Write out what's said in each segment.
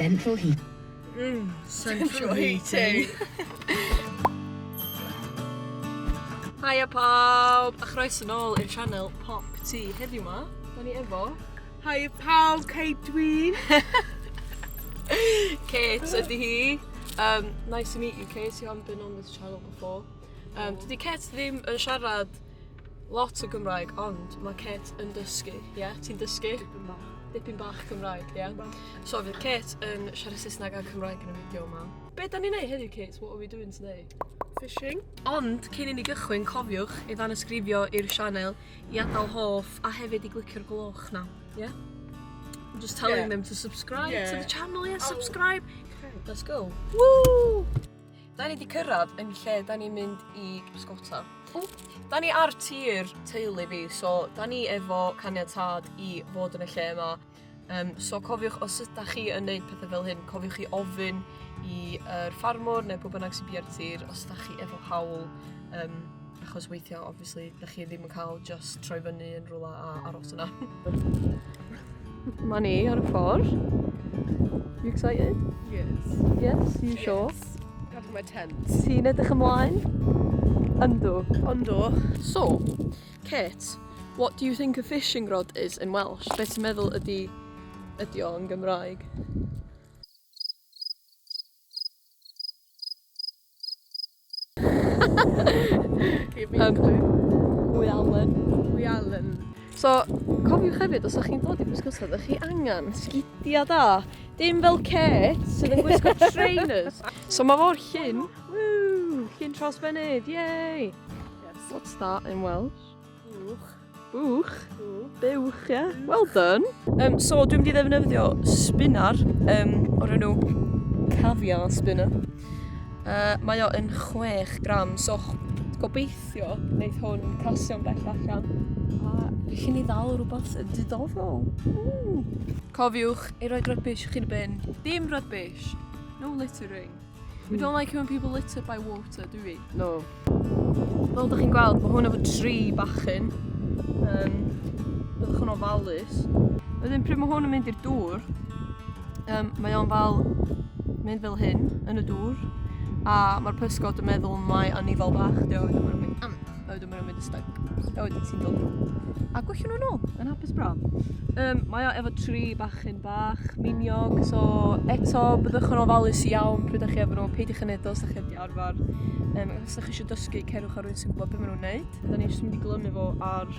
Central heat. Mm, central heating. Hiya pawb, a chroes yn ôl i'r channel Pop Tea. Heddiw ma, da ni efo... Hi pawb, Kate dw i. Kate ydy hi. Um, nice to meet you Kate, you haven't been on this channel before. Um, dydy Kate ddim yn siarad lot o Gymraeg, ond mae Kate yn dysgu, ie? Yeah? Ti'n dysgu? Dipyn bach. Dipyn bach Cymraeg, ie? Yeah? So fydd Kate yn siarad Saesneg a Cymraeg yn y fideo yma. Be da ni'n neud heddiw, Kate? What are we doing today? Fishing. Ond, cyn i ni gychwyn, cofiwch i ddanysgrifio i'r sianel i adal hoff a hefyd i glicio'r gloch 'na. Ie? I'm just telling yeah. them to subscribe yeah. to the channel, yeah, oh. subscribe. Okay. Let's go. Woo! Da ni wedi cyrraedd yn lle da ni'n mynd i bysgota. Da ni ar tir teulu fi, so da ni efo caniatad i fod yn y lle yma. Yym so cofiwch os ydach chi yn neud petha fel hyn cofiwch i ofyn i yr ffarmwr ne' pw bynnag sy bia'r tir os dach chi efo hawl yym achos weithia' obviously dach chi ddim yn ca'l jyst troi fyny yn rwla a aros yna. Ma' ni ar y ffor. You excited? Yes. Yes? You sure? Yes. Pack my tent. Ti'n edrych ymlaen? Yndw. Yndw. So Kate, what do you think a fishing rod is in Welsh? Be ti'n meddwl ydi, ydi o yn Gymraeg? Give me um, Hwy Allen. Hwy Allen. So, cofiwch hefyd, os ydych chi'n dod i bysgota, ydych chi angen sgidia da. Dim fel Kate, sydd yn gwisgo trainers. So mae fo'r llun. Woo! Llun tros fynydd, yay! What's that in Welsh? Bwch. Bwch? Bwch, ie. Well done. Um, so, dwi'n mynd i ddefnyddio spinner um, o'r enw Cafia Spinner. Uh, mae o yn 6 gram, so gobeithio wneud hwn casio'n bell allan. A fi chi'n ei ddal rhywbeth yn diddorol. Mm. Cofiwch ei roi rybys chi'n ben. Dim rybys. No littering. We don't like it when people litter by water, do we? No. Fel ydych chi'n gweld, mae hwn efo tri bachyn. Um, byddwch yn ofalus. Wedyn, pryd mae hwn yn mynd i'r dŵr, um, mae o'n fel mynd fel hyn yn y dŵr. A mae'r pysgod yn meddwl mai anifal bach, diolch. A wedyn maen nhw'n mynd i stag. A wedyn ti'n dod nhw. A gwellio nhw'n ôl, yn hapus braf. Um, mae o efo tri bachyn bach, miniog, so eto byddwch yn ofalus iawn pryd ydych chi efo nhw, peidiwch yn edrych os ydych chi wedi arfer. Um, os ydych chi eisiau dysgu, cerwch ar rwy'n sy'n gwybod beth maen nhw'n neud. Da ni'n mynd i glymu fo ar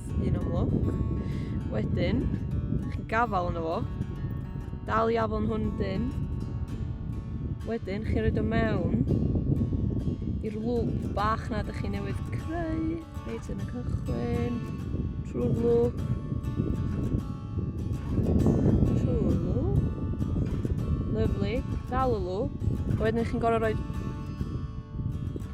Jyst un am lwc. Wedyn, chi'n gafal yno fo. Dal i afon hwn dyn. Wedyn, chi'n rhaid o mewn i'r lwp bach na ydych chi newydd creu. Reit yn y cychwyn. Trwy'r lwp. Trwy'r lwp. Lyflu. Dal y lwp. Wedyn, chi'n gorau rhoi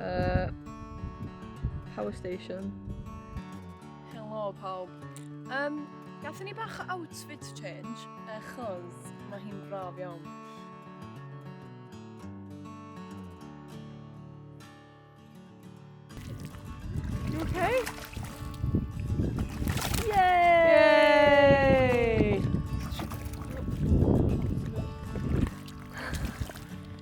Uh, power station. Helo pawb. Um, Gathen ni bach o outfit change, achos mae hi'n braf iawn. You okay?